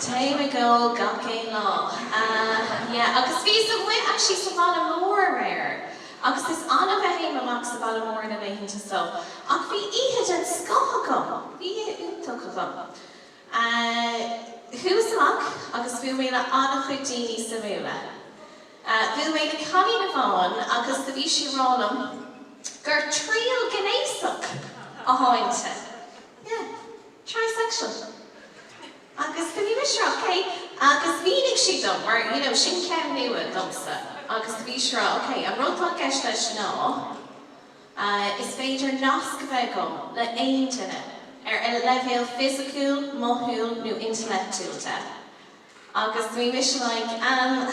Téim ag ól gach aon lá. Yeah, agus bhíos amuigh actually sa bhaile mór aréir agus is annamh a théim amach sa bhaile mór na laethanta so ach bhí oíche den scoth agam, bhí oíche iontach agam. Eh, chuas amach agus bhuail mé le an-chuid daoine suimiúla. Eh, bhuail mé le cailín amháin agus do bhí sí a' rá liom gur tríghnéasach atá inti. Yeah, trisexual. Agus do bhí mise, ok, agus mhínigh sí dom, mar you know sin ceann nua domsa agus do bhí sí a' rá, ok, an rud atá i gceist leis ná eh is féidir nasc a bheith agam le aon duine ar leibhéal fisiciúil, mothúil nó intleachtúil agus do bhí mise like ehm,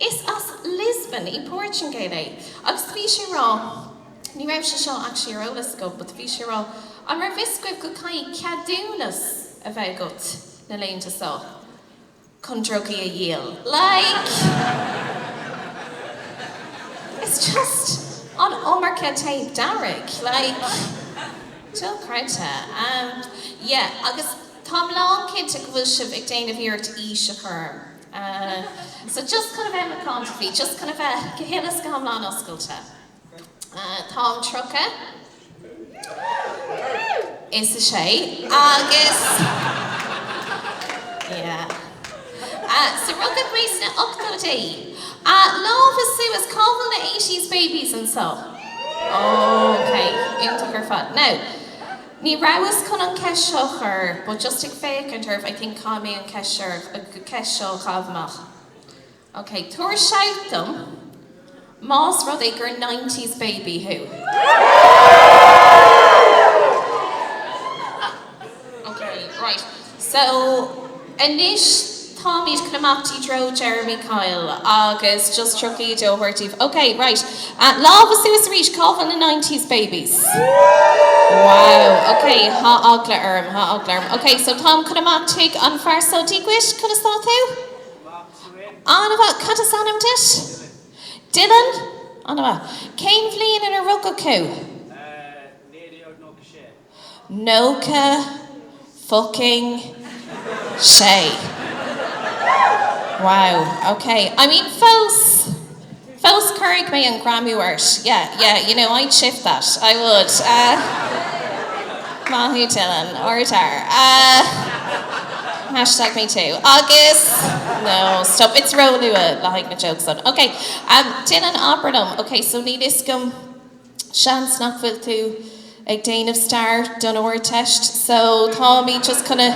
Is as Lisbon i Portugal é agus bhí sé a rá, ní raibh sé seo actually ar eolas agam, but bhí sé a rá an raibh fhios agaibh go gcaithfidh ceadúnas a bheith agat na laethanta so chun drugaí a dhíol? Like it's just an iomarca téip dearg like dochreidte. Yeah agus táim lán cinnte go bhfuil sibh ag déanamh iarracht aois a chur orm. Eh, so just chun a bheith macánta faoi, just chun a bheith go huile is go hiomlán oscailte, eh, táim tríocha is a sé agus, yeah, eh, so rugadh mé sna ochtóidí. Eh, lámha suas, cá bhfuil na eighties babies anseo? Oh, okay, iontach ar fad. Now, Ní rabhas chun an cheist seo a chur but just ag féachaint oraibh I think caithfidh mé an cheist seo a chaitheamh amach. Ok, tabhair shout dom más rud é gur nineties baby thú. Ok, right. So, anois táimid chun imeacht i dtreo Jeremy Kyle agus just Jackie D a thabhairt daoibh. Ok, right. Lámha suas arís, cá bhfuil na nineties babies? Wow, ok, tá eagla orm, tá eagla orm. Ok, so táim chun imeacht chuig an fear so, Dia dhuit, conas tá tú? An-mhaith, cad is ainm duit? Dylan. Dylan? An-mhaith. Cén bhliain inar rugadh thú? Eh, naoi déag nócha sé. Nócha fucking sé. Wow, ok. I mean, fós, fós cuirfidh mé an Ghramaigh ort. Yeah, yeah, you know, I'd shift that, I would. Maith thú Dylan, ardfhear. Hashtag me too. Agus, no, stop, it's róluath le haghaidh na jokes san. Ok, déan an obair liom, ok, so níl fhios agam. Seans nach bhfuil tú ag déanamh stair don Ardteist so táimid just chun a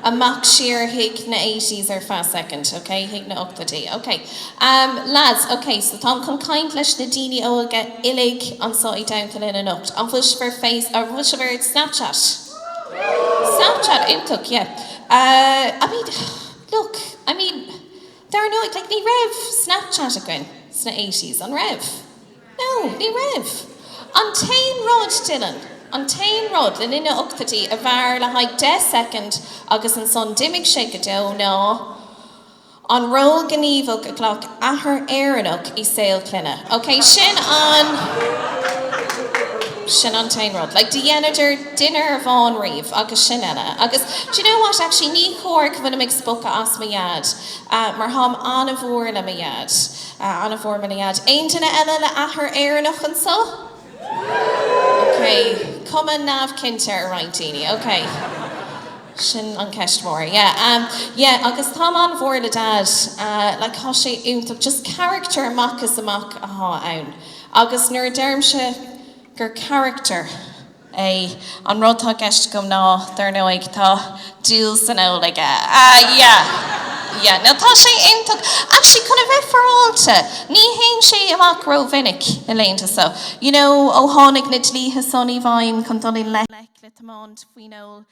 amach siar chuig na eighties ar feadh soicind, ok? Chuig na hochtóidí. Ok. Ahm, leaids, ok so táim chun caint leis na daoine óga uilig anseo i Damhtoilin anocht. An bhfuil sibh ar Face, an bhfuil sibh ar Snapchat? Snapchat, iontach, yeah. Ah, I mean, look, I mean, dar ndóigh, like ní raibh Snapchat againn sna eighties, an raibh? No, ní raibh. An t-aon rud, Dylan, an t-aon rud, le linn na n-ochtóidí, a mhair le haghaidh deich soicind agus ansan d'imigh sé go deo, ná an ról gníomhach a ghlac athair Éireannach i saol clainne. Ok, sin an, sin an t-aon rud. Like, do dheineadar dinnéar amháin riamh agus sin é. Agus, do you know what, actually, ní chóir go bhfuilim ag spochadh as mo Dhaid, mar táim an-mhór le mo Dhaid. An-mhór le mo Dhaid? Aon duine eile le athair Éireannach anso? Ok. Cuma neamhchinnte ar roinnt daoine. Ok. Sin an ceist mhór. Yeah. Um, yeah, agus táim an-mhór le Daid. Uh, like tá sé iontach. Just character amach is amach atá ann. Agus nuair a deirimse gur character. é. An rud 'tá i gceist agam ná, dar ndóigh, tá dúil san ól aige. Ah, yeah, yeah. Now, tá sé iontach. Actually, chun a bheith féaráilte, ní théann sé amach rómhinic na laethanta so. You know, ó tháinig na dlíthe san i bhfeidhm chun dul i ngleic le tiomáint faoin ól,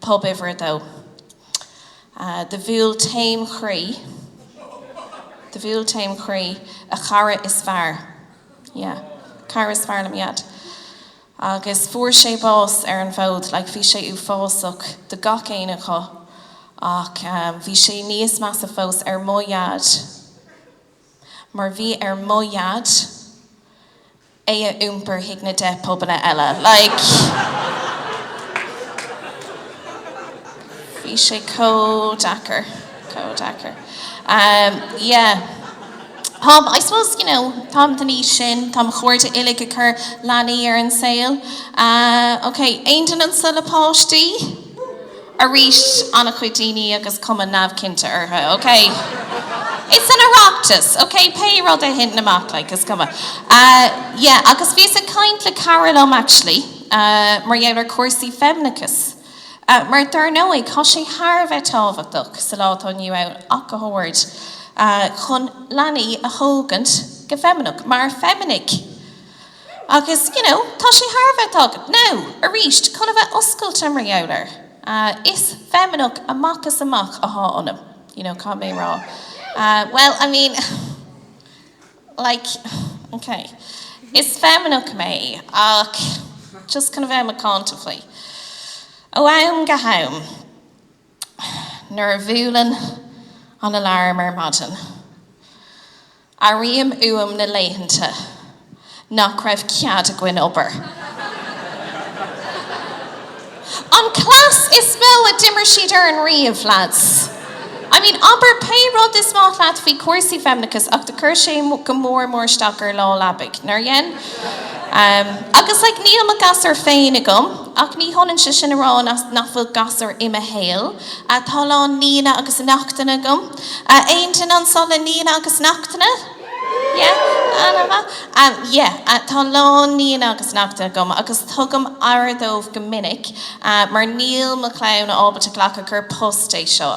Pub uimhir a dó. Do bhuail taom chroí, do bhuail taom chroí, a chara is fearr, yeah, cara is fearr le mo Dhaid. Agus fuair sé bás ar an bhfód, like bhí sé uafásach do gach éinne acu, ach bhí sé níos measa fós ar mo Dhaid. mar bhí ar mo Dhaid é a iompar chuig na deich bpubanna eile. Like, bhí sé chomh deacair, chomh deacair. Um, yeah. Táim, I suppose, you know, táim den aois sin, tá mo chairde uilig ag cur leanaí ar an saol. Uh, okay, aon duine anseo le páistí? Arís, an-chuid daoine agus cuma neamhchinnte orthu, OK? It's an Oireachtas, OK? Pé rud a thiteann amach, like, is cuma. Yeah, agus bhíos ag caint le cara liom, actually, mar gheall ar chúrsaí feimineachais, mar dar ndóigh, tá sé thar a bheith tábhachtach sa lá atá inniu ann ach go háirithe, chun leanaí a thógaint go feimineach, mar feiminigh. Agus, you know, tá sé thar a bheith tábhachtach. Now, arís, chun a bheith oscailte mar gheall air, is feimineach amach is amach athá ionam, you know, caithfidh mé a rá. Bhuel, I mean, like, ok, is feimineach mé ach, just chun a bheith macánta faoi, ó am go ham, nuair a bhuaileann an alarm ar maidin, Airím uaim na laethanta nach raibh cead againn obair. An cleas is mó a d'imir siad orainn riamh, leaids. I mean, abair pé rud is maith leat faoi chúrsaí feimineachais ach do chuir sé go mór mór isteach ar lá leabaidh, nár dhein? Agus, like, níl mo ghasúr féin agam ach ní hionann sé sin a rá nach bhfuil gasúir i mo shaol. Tá a lán nianna agus neachtanna agam. Aon duine anso le nianna agus neachtanna? Yeah? Ana mhaith. Yeah, tá a lán nianna agus neachtanna agam agus tugaim aire dóibh go minic mar níl mo chlann ábalta glacadh gur post é seo.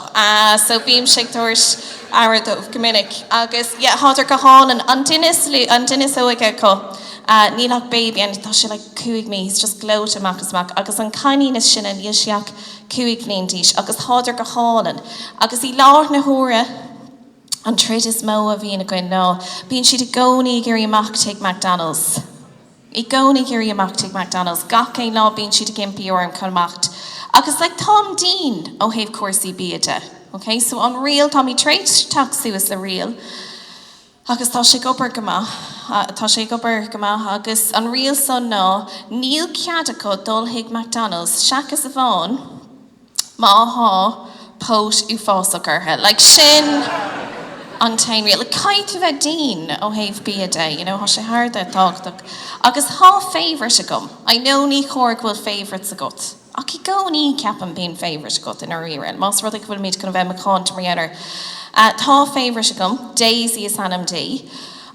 So bímse ag tabhairt aire dóibh go minic agus yeah, thádar go hálainn. An duine is lú, an duine is óige acu, níl ach baby ann, tá sé like cúig mí, he's just gleoite amach is amach agus an cailín is sine, níl sí ach. cúig bhliain d'aois, agus tádar go hálainn, agus i láthair na huaire an troid is mó a bhíonn againn ná bíonn siad i gcónaí ag iarraidh imeacht chuig McDonalds. i gcónaí ag iarraidh imeacht chuig McDonalds gach aon lá bíonn siad ag impí orm chun imeacht agus like táim dian ó thaobh cúrsaí bia de, okay, so an riail táimid tar éis teacht suas le riail, Agus tá sé ag obair go maith. Tá sé ag obair go maith agus an riail san ná níl cead acu dul chuig McDonalds seachas amháin má thá póit uafásach ortha. Like sin an t-aon riail. Like caithfidh tú bheith dian ó thaobh bia de, you know, thá sé thar a bheith tábhachtach. Agus thá favourite agam. I know ní chóir go bhfuil favourites agat. Ach i gcónaí, ceapaim, bíonn favourite agat i ndáiríre. Más rud é go bhfuilimid chun a bheith macánta mar gheall air. Tá favourite agam, Daisy is ainm di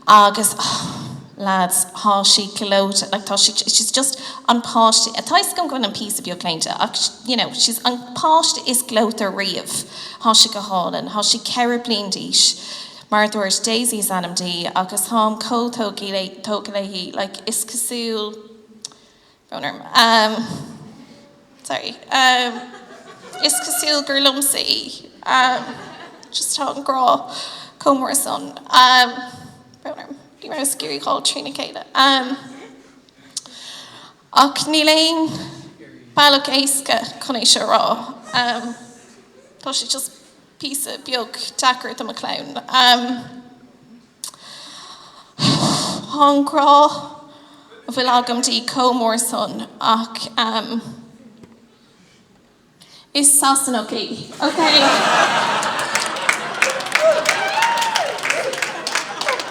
agus, oh, lads, tá sí gleoite. Like, tá sí, she's just an páiste, tá a fhios agam go bhfuilim píosa beag claonta ach, you know, she's an páiste is gleoite riamh. Tá sí go hálainn. Tá sí ceithre bliain d'aois. Mar a dúirt, Daisy is ainm di agus táim chomh tógtha léi, like, is cosúil. Conair. Ahem. Sorry. Ahem. Is cosúil gur liomsa í. Ahem. Just tá an grá chomh mór san. Ahem. Conair. Ní rabhas ag iarraidh fáil trína chéile. Ahem. Ach níl aon bealach éasca chun é seo a rá. Ahem. Tá sé just. píosa beag deacair do mo chlann. Tá an grá a bhfuil agam di comh mór san ach is Sasanach í, okay?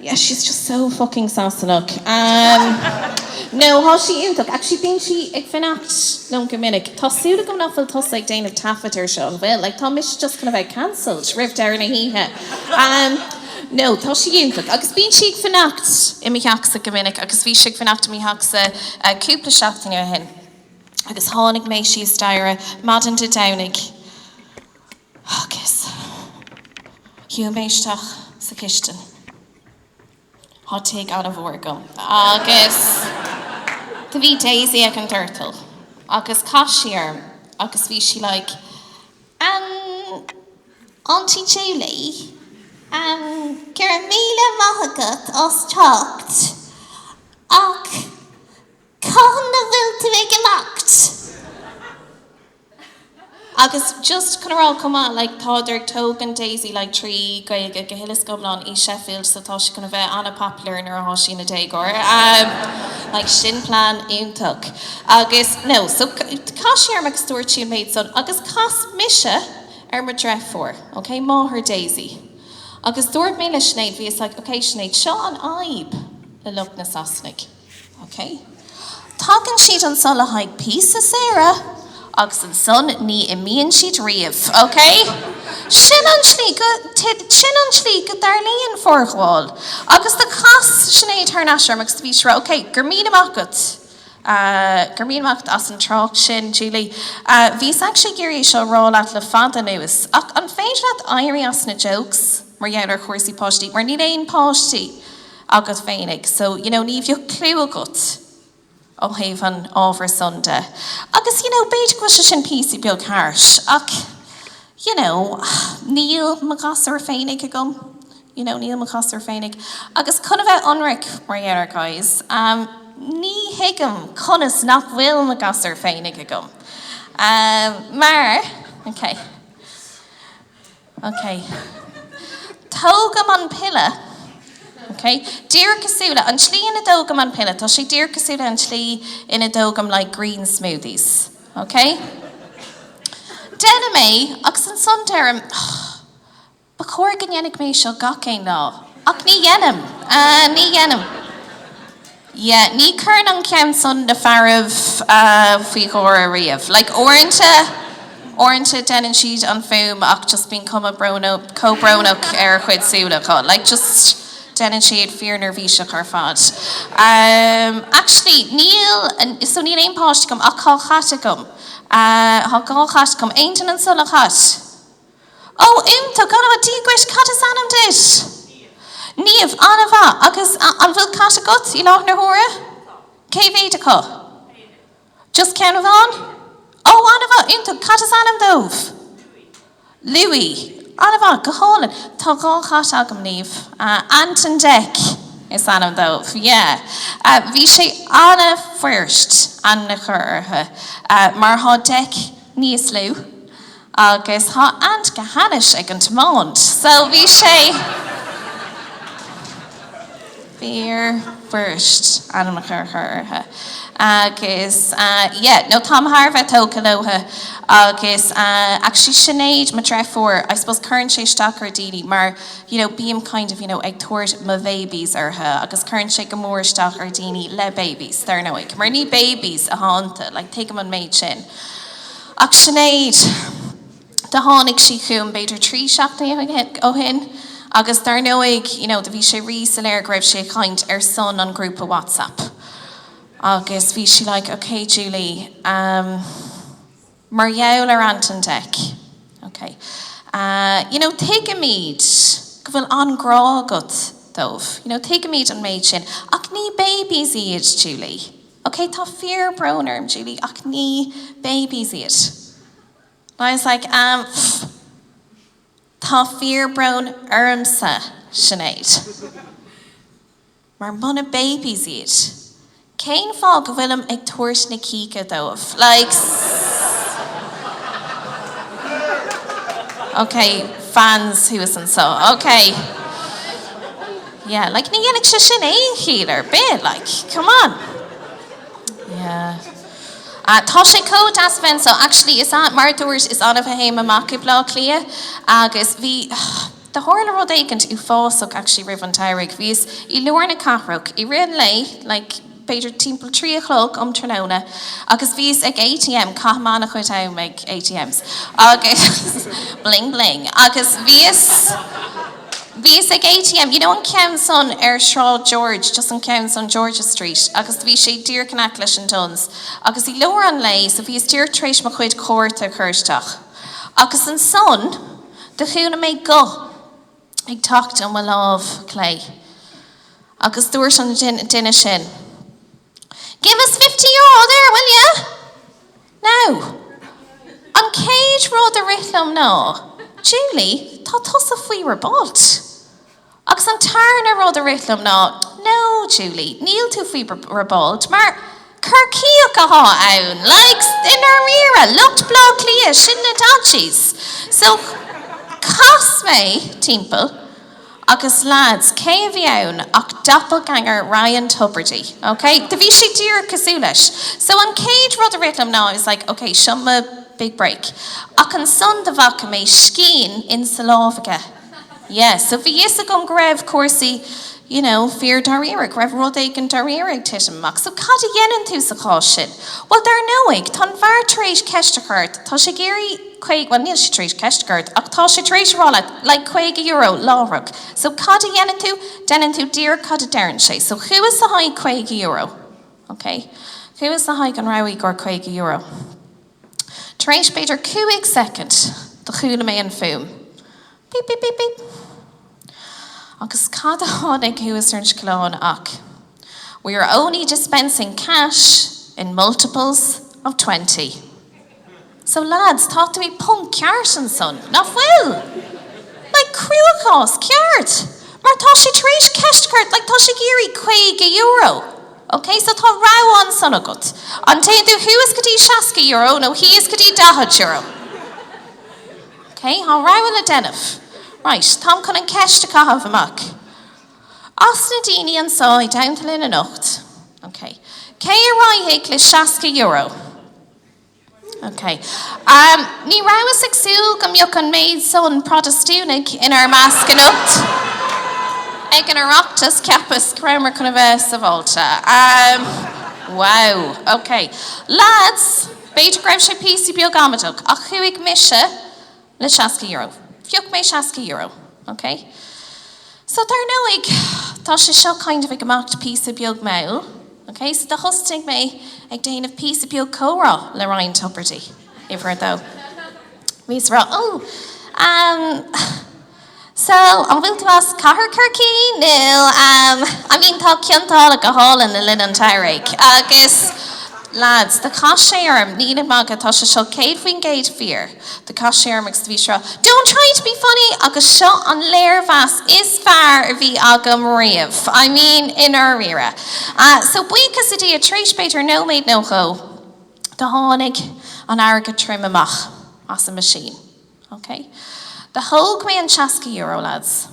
Yeah, she's just so fucking Sasanach. No, tá sí iontach. Actually, bíonn sí ag fanacht liom go minic. Tá súil agam nach bhfuil tusa ag déanamh taifead air seo, an bhfuil? Like, tá mise just gonna bheith cancelled roimh deireadh na hoíche. No, tá sí iontach. Agus bíonn sí ag fanacht i mo theachsa go minic agus bhí sí ag fanacht i mo theachsa cúpla seachtain ó shin. Agus tháinig mé síos staighre maidin Dé Domhnaigh. Agus shiúil mé isteach sa chistin. Thá tigh ana-mhór agam. Agus do bhí Daisy ag an doirteal. Agus chas sí orm agus bhí sí like, Aunty Julie, em, go raibh míle maith agat as teacht, ach cathain a bhfuil tú ag imeacht? Agus just chun a rá chomh maith, like, tádar ag tógaint Daisy, like, trí Ghaeilge go huile is go hiomlán i Sheffield so tá sí chun a bheith ana-popular nuair athá sí ina déagóir. Ahm, like, sin plean iontach. Agus, no, so chas sí orm agus dúirt sí an méid san agus chas mise ar mo dhreifiúr, ok, máthair Daisy. Agus dúirt mé le Sinéad, bhíos like, ok, Sinéad, seo an fhadhb le lucht na Sasanaigh, OK. Tagann siad anso le haghaidh píosa saoire agus ansan ní imíonn siad riamh. OK? Sin an tslí go, sin an tslí go dtarlaíonn forghabháil. Agus do chas Sinéad thar n-ais orm agus do bhí sí a rá, OK, go raibh míle maith agat, go raibh míle maith agat as an trácht sin, Julie. Bhíos actually ag iarraidh é seo a rá leat le fada anuas, ach an féidir leat éirí as na jokes? mar gheall ar chúrsaí páistí, mar níl aon páistí agat féinig, so you know ní bheadh clue agat ó thaobh an ábhair san de. Agus you know b'fhéidir go bhfuil sé sin píosa beag harsh ach you know níl mo ghasúir féinig agam, you know níl mo ghasúir féinig. Agus chun a bheith ionraic mar gheall air guys, ní thuigim conas nach bhfuil mo ghasúir féinig agam mar okay. Ok. Tógaim an piolla. Ok. Díreach cosúil le an tslí ina dtógaim an piolla, tá sé díreach cosúil le an tslí ina dtógaim like green smoothies. Ok. Deinim é, agus ansan deirim, Ach, ba chóir go ndéanfaidh mé seo gach aon lá. Ach ní dhéanaim. Ní dhéanaim. Ye, ní chuireann an ceann san na fearaibh faoi gháire riamh. Like, uaireanta, uaireanta deineann siad an fuaim ach just bíonn cuma chomh brónach ar a chuid súl acu. Like, just deineann siad fíorneirbhíseach ar fad. Um, actually, níl, so níl aon páiste agam ach dhá chat agam. Tá dhá chat agam. Aon duine anso le cat? Ó, iontach! An-mhaith. Dia dhuit. Cad is ainm duit? Niamh, An-mhaith. Agus an bhfuil cat agat i láthair na huaire? Cé mhéad acu? Just ceann amháin? Ó, an-mhaith! Iontach! Cad is ainm dóibh? Louis, Louis. An-mhaith. Go hálainn. Tá dhá chat agam, Niamh. Ant and Dec is ainm dóibh. Yeah. Bhí sé an-fhuirist ainm a chur orthu mar tá Dec níos lú. Agus thá Ant go hainnis ag an tiomáint, so bhí sé fíorfhuirist ainm a chur orthu. Agus yeah, no, táim thar a bheith tógtha leothu. Agus actually Sinéad, mo dhreifiúr, I suppose cuireann sé isteach ar daoine mar you know bím kind of you know ag tabhairt mo bhéibís orthu agus cuireann sé go mór isteach ar dhaoine le béibís, dar ndóigh, mar ní béibís athá iontu, like tuigim an méid sin. Ach Sinéad, do tháinig sí chugam b'fhéidir trí seachtainí ó shin agus dar ndóigh, you know, do bhí sé rí-soiléir go raibh sí ag caint ar son an ghrúpa WhatsApp agus bhí sí like, ok Julie, ehm, mar gheall ar Ant and Dec, ok, eh, you know, tuigimid go bhfuil an-ghrá agat dóibh, you know, tuigimid an méid sin ach ní babies iad, Julie. Ok, tá fíor brón orm, Julie, ach ní babies iad. And I was like, ehm, pff, tá fíor brón ormsa, Sinéad. Mar muna babies iad, cén fáth go bhfuilim ag tabhairt na cíocha dóibh? Like, s-. Ok, fans thuas anseo. Ok. Yeah, like ní dhéanfadh sé sin aon chiall ar bith, like, come on! Yeah. Tá sé chomh deas a bheith anseo, actually, is ea, mar a dúirt, is annamh a théim amach i mBleá Cliath agus bhí, do tharla rud éicint uafásach actually roimh an tsamhraidh, bhíos i lár na cathrach i rith an lae, like, b'fhéidir timpeall trí a chlog um tráthnóna agus bhíos ag ATM, caithim an-chuid am ag ATMs, agus bling bling, agus bhíos, bhíos ag ATM, you know an ceann san ar Shráid George, just an ceann san, George's Street, agus bhí sé díreach in aice leis an Dunnes, agus i lár an lae, so bhíos díreach tar éis mo chuid cárta a chur isteach, agus ansan do chuala mé guth. ag teacht ó mo láimh chlé. Agus dúirt an duine sin, Give us fifty euro there, will you? No, an chéad rud a rith liom ná, Julie, tá tusa faoi robáilt. Agus an tarna rud a rith liom ná, No, Julie, níl tú faoi robáilt, mar Corcaíoch athá ann, like i ndáiríre, lucht Bhleá Cliath, sin na Dodgies. So, chas mé timpeall agus lads, cé a bhí ann ach doppelganger Ryan Tubridy, ok? Do bhí sé díreach cosúil leis. So, an chéad rud a rith liom ná, I was like, ok, seo mo big break. Ach ansan do bhaca mé scian insa lámh aige. Yeah, so bhí fhios agam go raibh cúrsaí, you know, fíor dáiríre, go raibh rud éigin dáiríre ag titim amach. So cad a dhéanann tú sa chás sin? Bhuel, dar ndóigh, tá an fear tar éis ceist a chur ort, tá sé ag iarraidh, bhuel, níl sé tar éis ceist a chur ort, ach tá sé tar éis a rá leat, like, caoga euro láithreach. So cad a dhéanann tú? Déanann tú díreach cad a deireann sé. So chuas le haghaidh caoga euro. Okay. Chuas le haghaidh an rogha gur caoga euro. Tar éis b'fhéidir cúig soicind do chuala mé an fuaim, bíp bíp bíp bíp. Agus cad a tháinig thuas ar an scaileán ach We are only dispensing cash in multiples of twenty. So lads, tá tú i bponc ceart ansan, nach bhfuil? Like cruachás ceart! Mar tá sé tar éis ceist a chur, like tá sé ag iarraidh €50. OK, so tá rogha ansan agat. An dtéann tú thuas go dtí €60 nó thíos go dtí €40? OK, tá rogha le déanamh. Right, táim chun an cheist a chaitheamh amach. As na daoine anso i dteannta linn anocht, OK, cé a raghadh le €60? Ok. Ní rabhas ag súil go mbeadh an méid san Protastúnaigh inár measc anocht ag an Oireachtas, cheapas go rabhamar chun a bheith sabháilte. Wow! Ok. Lads, b'fhéidir go raibh sé píosa beag amaideach, ach chuaigh mise, le seasca euro. Phioc mé seasca euro. OK. So, dar ndóigh, tá sé seo kind of ag imeacht píosa beag mall. OK. So, do thosnaigh mé ag déanamh píosa beag comhrá le Ryan Tubridy, uimhir a dó. Bhíos a rá, oh, um, So, an bhfuil tú as cathair Chorcaí nó em I mean tá Cionn tSáile go hálainn le linn an tsamhraidh agus lads do chas sé orm, nílim ag magadh tá sé seo 100% fíor, do chas sé orm agus do bhí sé rá don't try to be funny agus seo an léirmheas is fearr a bhí agam riamh I mean i ndáiríre. So buíochas le Dia tar éis b'fhéidir nóiméad nó dhó do tháinig an airgead trim amach as an machine. OK. Do thóg mé an seasca euro, lads.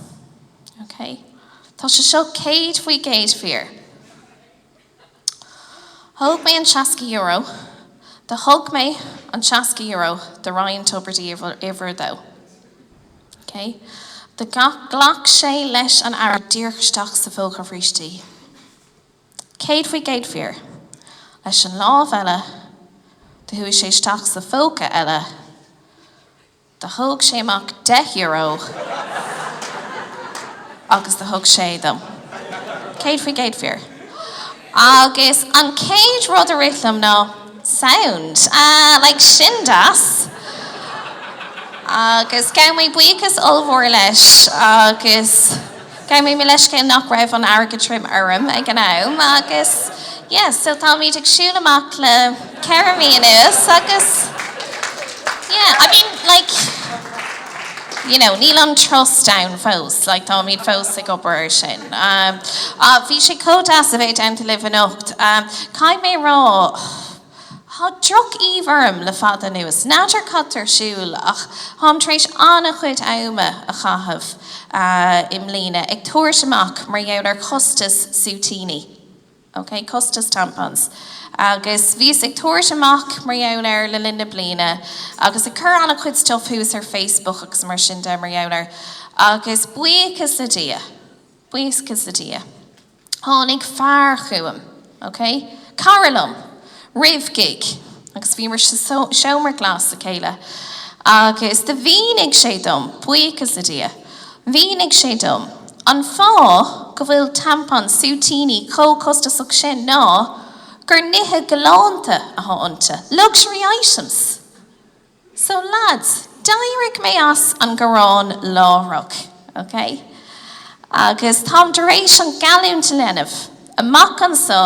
OK. Tá sé seo céad faoi gcéad fíor. Thóg mé an seasca euro, Do thug mé an seasca euro do Ryan Tubridy uimhir a dó. OK. Do ghlac sé leis an airgead díreach isteach sa phóca bríste. Céad faoi gcéad fíor. Leis an lámh eile, do chuaigh sé isteach sa phóca eile, do thóg sé amach deich euro agus do thug sé dom. Céad faoi gcéad fíor. Agus an chéad rud a rith liom ná, sound. Like, sin deas. Agus ghabh mé buíochas ollmhór leis agus. Ghabh mé leithscéal nach raibh an t-airgead tirim orm ag an am agus yeah so táimid ag siúl amach le ceithre mhí anuas agus yeah I mean like you know níl an trust ann fós like táimid fós ag obair ar sin um, ah, bhí sé chomh deas a bheith anseo libh anocht um, caithfidh mé rá Tá droch-aoibh orm le fada anuas. N'fheadar cad tá ar siúl ach táim tar éis an-chuid ama a chaitheamh i mbliana ag tabhairt amach mar gheall ar costas súitíní, ok, costas tampons, agus bhíos ag tabhairt amach mar gheall air le linn na bliana agus ag cur an-chuid stuif thuas ar Facebook agus mar sin de mar gheall air agus buíochas le Dia, buíochas le Dia. Tháinig fear chugam, ok, cara liom, roimh gig agus bhíomar sa seomra glas le chéile agus do mhínigh sé dom, buíochas le Dia, mhínigh sé dom an fáth go bhfuil tampons súitíní chomh costasach sin ná gur nithe galánta atá iontu, luxury items! So lads, d'éirigh mé as an ngearán láithreach, ok? Agus táim tar éis an ghealltúint a dhéanamh, amach anso,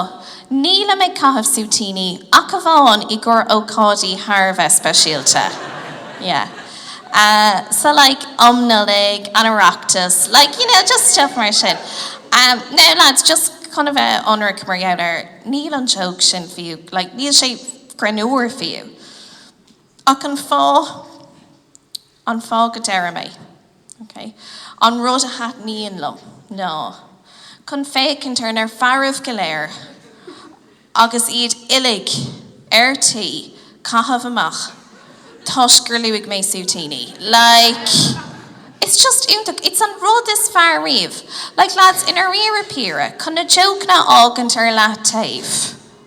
nílim ag caitheamh súitíní ach amháin i gcomhair ócáidí thar a bheith speisialta. Yeah. Eh, so like, um Nollaig, an Oireachtas, like, you know, just stuff mar sin. Em, now lads, just chun a bheith ionraic mar gheall air, níl an joke sin fiú, like, níl sé greannúr fiú. Ach an fáth, an fáth go ndeirim é, ok, an rud a thaitníonn liom ná chun féachaint ar na fearaibh go léir agus iad uilig ar tí caitheamh amach toisc gur luaigh mé súitíní. Like, it's just iontach, it's an rud is fearr riamh. Like lads, i ndairíre píre, chun na jócanna a fhágaint ar leath taobh,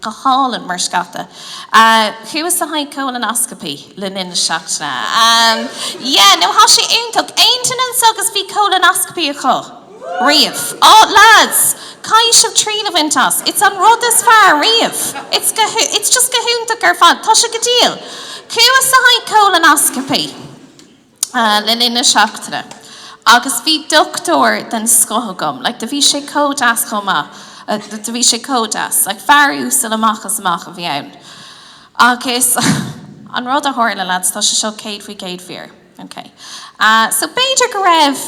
Go hálainn, mar scata. Chuas le haghaidh cólanáiscopaí le linn na seachtaine. Yeah, no, thá sé iontach. Aon duine anseo agus bhí cólanáiscopaí acu riamh? Oh, lads, caithfidh sibh triail a bhaint as. It's an rud is fearr riamh. It's go, it's just go hiontach ar fad. Tá sé go diail. Chuas le haghaidh cólanáiscopaí. le linn na seachtaine agus bhí doctúir den scoth agam, like, do bhí sé comh deas chomh maith, do bhí sé comh deas, like, fear uasal amach is amach a bhí ann agus an rud a tharla, lads, tá sé seo céad faoi chéad fíor, ok, so b'fhéidir go raibh,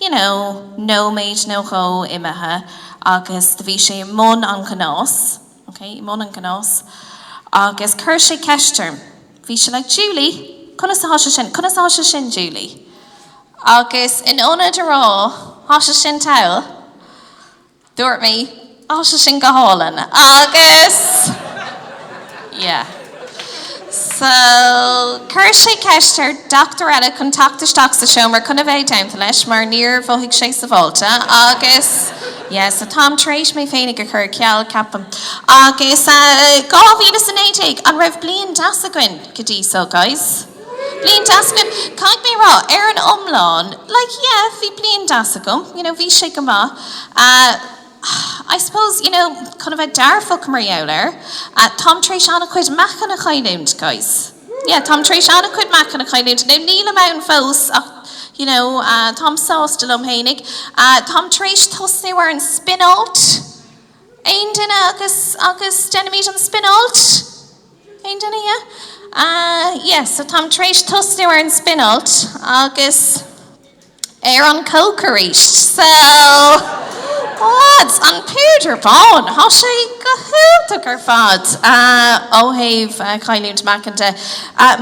you know, nóiméid nó dhó imithe agus do bhí sé i mbun an ghnáis, OK, i mbun an ghnás. Agus chuir sé ceist orm. Bhí sé like, Julie, conas atá sé sin? Conas atá sé sin, Julie? Agus in ionad a rá, Thá sé sin togha, dúirt mé, Thá sé sin go hálainn. Agus yeah. Chuir sé ceist ar dhochtúir eile chun teacht isteach sa seomra chun a bheith i dteannta leis mar níor mhothaigh sé sabháilte agus yeah so táim tar éis mé féinig a chur ar ceal ceapaim. Agus 2019, an raibh bliain deas againn go dtí so guys? Bliain deas againn? Caithfidh mé rá, ar an iomlán like yeah bhí bliain deas agam, you know bhí sé go maith. I suppose, you know, chun a bheith dearfach, mar gheall air, táim tar éis an-chuid meáchan a chailliúint, guys. Yeah, táim tar éis an-chuid meáchan a chailliúint. Now, nílim ann fós ach, you know, táim sásta liom fhéinig. Táim tar éis tosnú ar an spion-alt. Aon duine? Agus, agus déanaimid an spion-alt? Aon duine, yeah? Yeah, so táim tar éis tosnú ar an spinneáilt agus. ar an coke arís. So, lads, an púdar bán, thá sé go hiontach ar fad ó thaobh chailliúint meáchan de.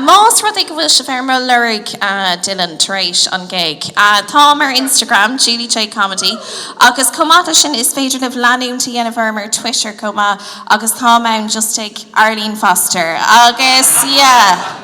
Más rud é go bhfuil sibh ar mo lorg Dylan tar éis an gig, táim ar Instagram, Julie Jay Comedy, agus chomh maith le sin is féidir libh leanúint a dhéanamh orm ar Twitter chomh maith agus táim ann just ag Arlene Foster agus yeah.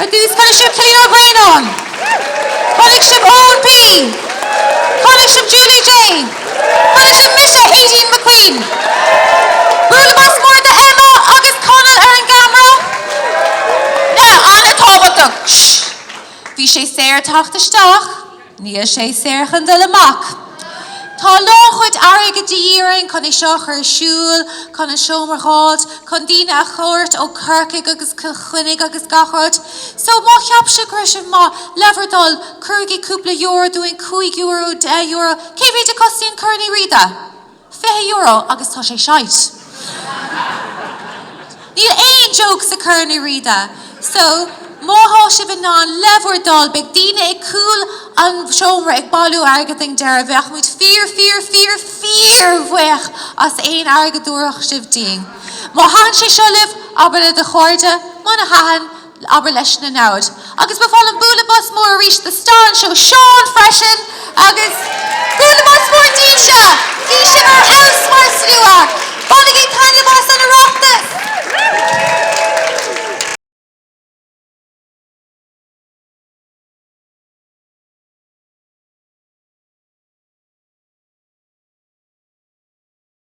Ar dtús, chonaic sibh Cillian Ó Braonáin. Chonaic sibh Eoin P. Chonaic sibh Julie Jay. Chonaic sibh mise, Aideen McQueen. Bualadh bos mór do Emma agus Conall ar an gceamara. Now, an-tábhachtach, shh! Bhí sé saor teacht isteach. Níl sé saor chun dul amach. Tá lán chuid airgid de dhíth orainn chun é seo a chur ar siúl, chun an seomra a dh'fháilt, chun daoine a thabhairt ó Chorcaigh agus Cill Chainnigh agus gach rud. So, má cheap sibh go raibh sé maith, le bhur dtoil, cuirigí cúpla euro dúinn, cúig euro, deich euro, cé mhéid a chostaíonn Corn Uí Riada? fiche euro agus tá sé shite. Níl aon joke sa Corn Uí Riada so má tá sibh in ann le bhur dtoil beidh daoine ag cúl an seomra ag bailiú airgead ag an deireadh bheadh muid fíor fíor fíor fíor bhuíoch as aon airgead dtabharfadh sibh dínn. Má thaitn sé seo libh, abair le do chairde, muna thaitn, abair leis na namhaid. Agus ba mhaith liom bualadh bos mór arís do star an show Seán freisin! Agus bualadh bos mór daoibhse! Bhí sibh ar fheabhas mar slua! Bainigí taitneamh as an Oireachtas!